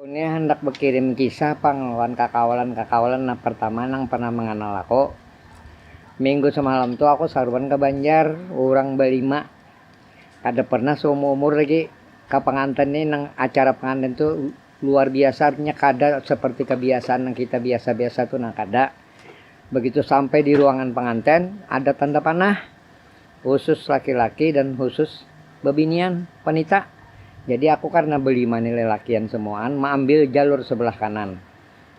Unia handak bakirim kisah pang lawan kakawalan-kakawalan nah partama nang pernah manganal aku. Minggu samalam tu aku saruan ka Banjar, urang balima. Kada pernah saumur-umur lagi ka panganten ni nang acara panganten tu luar biasa artinya kada seperti kabiasaan nang kita biasa-biasa tu nah kada. Begitu sampai di ruangan panganten ada tanda panah. husus laki-laki dan husus bebinian, wanita. Jadi aku karna belima ni lelakian semuaan maambil jalur sebelah kanan,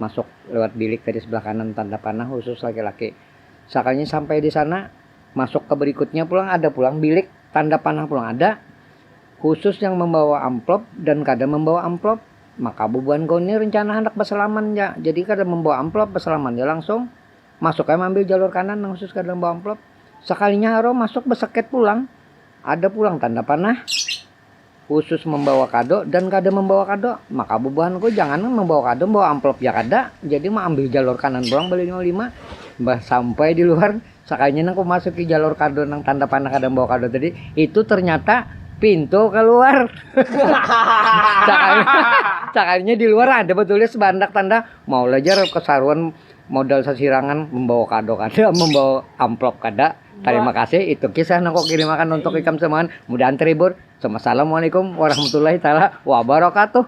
masuk lewat bilik tadi sebelah kanan tanda panah husus laki-laki. Sakalinya sampai di sana, masuk ke berikutnya pulang ada pulang bilik tanda panah pulang ada, husus yang membawa amplop dan kada membawa amplop. Maka bubuhan ku ni rencana handak besalaman ja, jadi kada membawa amplop, besalaman ja langsung. Masuk ai maambil jalur kanan nang khusus ka dalam buah amplop. Sakalinya Haro masuk beseket pulang. Ada pulang tanda panah khusus membawa kado dan kada membawa kado. Maka bubuhanku janganan membawa kado, membawa amplop ja kada. Jadi maambil jalur kanan pulang balima-lima. Bah sampai di luar, sakalinya nang kumasuki jalur kado nang tanda panah kada membawa kado tadi, itu ternyata pintu keluar. sakalinya di luar ada betulis bahandak tanda, maulah jar kesaruan Modal sasirangan membawa kado kada, membawa amplop kada. Tarima kasih, itu kisah nang kukirimakan untuk ikam semuaan, mudahan terhibur. Summa salamualaikum warahmatullahi taala wabarakatuh.